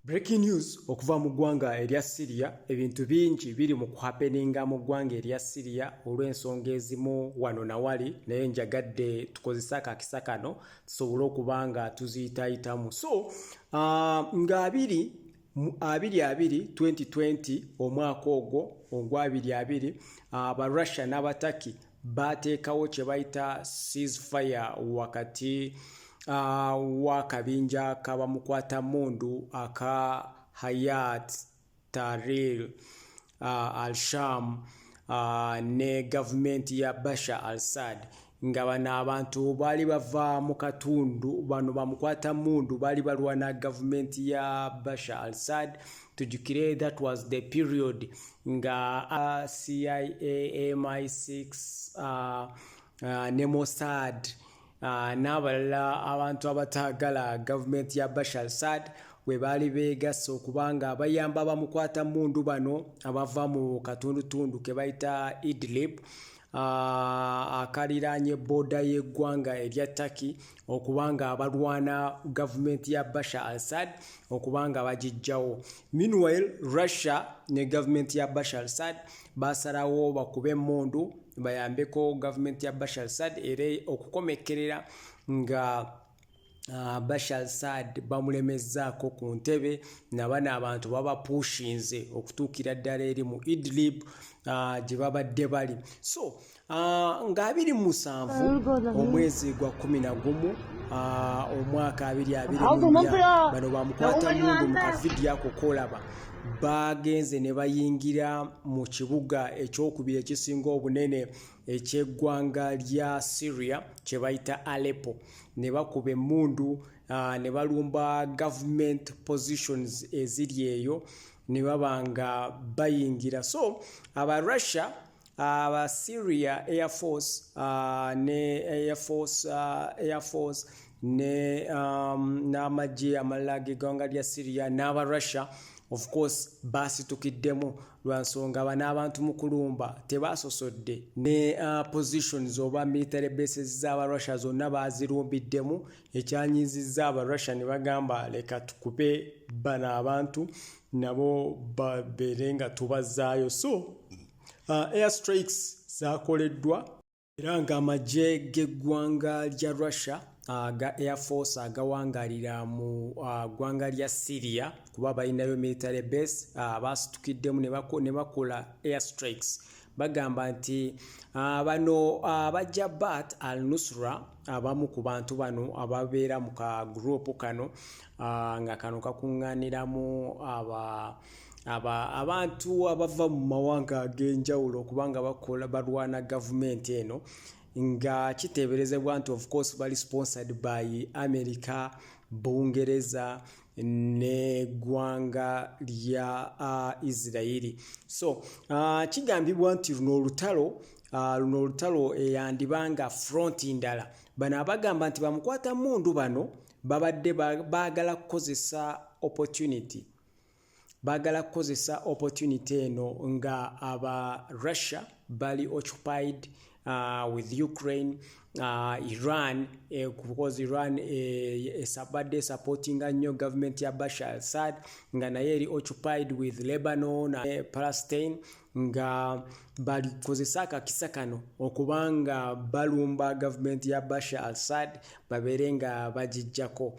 Breaking news okuva mu ggwanga erya Syria ebintu bingi biri mu kuhapeninga mu ggwanga erya Syria olw'ensonga ezimu wano na wali naye njagadde tukozese akakisa kano tusobole okuba nga tuziyitayitamu so uh, nga abiri abiri abiri 2020 omwaka ogwo ogwa abiri abiri aba uh, Russia n'abataki baateekawo kye bayita ceasefire wakati uh, w'akabinja kabamukwata mundu aka hayat taril uh, al sham uh, ne gavumenti ya basha al sad nga bano abantu baali bava mu katundu bano bamukwata mundu baali balwana gavumenti ya basha al sad tujukire that was the period nga uh, cia mi6 uh, uh, ne mosad uh, n'abalala abantu abataagala gavumenti ya bashar sad we baali beegasse okuba nga bayamba bamukwata mundu bano abava mu katundutundu ke bayita idlib uh, akaliraanye booda y'eggwanga erya turkey okuba nga balwana gavumenti ya bashar al-sad okuba nga bagijjawo meanwhile russia ne gavumenti ya bashar al-sad basalawo bakube emundu bayambeko gavumenti ya bashar al-sad era okukomekkerera nga Ah, bashar sad bamulemezzaako ku ntebe nabano abantu babapushinze okutuukira ddala eri mu idlib ah, gye babadde bali so Ah, nga abiri mu musanvu omwezi gwa kumi na gumu ah, omwaka abiri abiri bano bamukwata mundu mu kavidi ako kolaba bagenze ne bayingira mu kibuga ekyokubiri ekisinga obunene ekyeggwanga lya syria kye bayita aleppo ne bakuba emundu ah, ne balumba government positions eziri eyo ne baba nga bayingira so aba russia aba uh, syria air force uh, ne air force uh, air force ne um, n'amagye amalala gegwanga lya syria n'aba russia of course baasitukiddemu lwa nsonga bano abantu mu kulumba tebaasosodde ne uh, positions oba military bases z'aba russia zonna baazirumbiddemu ekyanyiizizza aba russia ne bagamba leka tukube bano abantu nabo babeere nga tubazzaayo so Uh, air strikes zakoleddwa era ng'amagye g'eggwanga lya russia aga uh, air force agawangalira mu uh, ggwanga lya syria kuba balinayo military base uh, baasitukiddemu ne bakola air strikes bagamba nti uh, bano uh, bajja bat al nusra abamu uh, ku bantu bano ababeera mu ka gurupu kano uh, nga kano kakuŋŋaaniramu aba uh, aba abantu abava mu mawanga ag'enjawulo okubanga bakola balwana gavumenti eno nga kiteeberezebwa nti of course bali sponsored by america bungereza neggwanga lya uh, isirairi so uh, kigambibwa nti luno olutalo uh, luno olutalo eyandiba nga fronti ndala bano abagamba nti bamukwata mundu bano babadde baagala kukozesa opportunity bagala kukozesa opportunity eno nga aba russia bali occupied uh, with ukraine uh, iran eh, because iran esabadde eh, eh, supportinga nnyo government ya bashar alsad nga naye eri occupied with lebanon uh, eh, palestine nga balikozesa akakisa kano okuba nga balumba gavumenti ya bashar alsad babeere nga bagijjako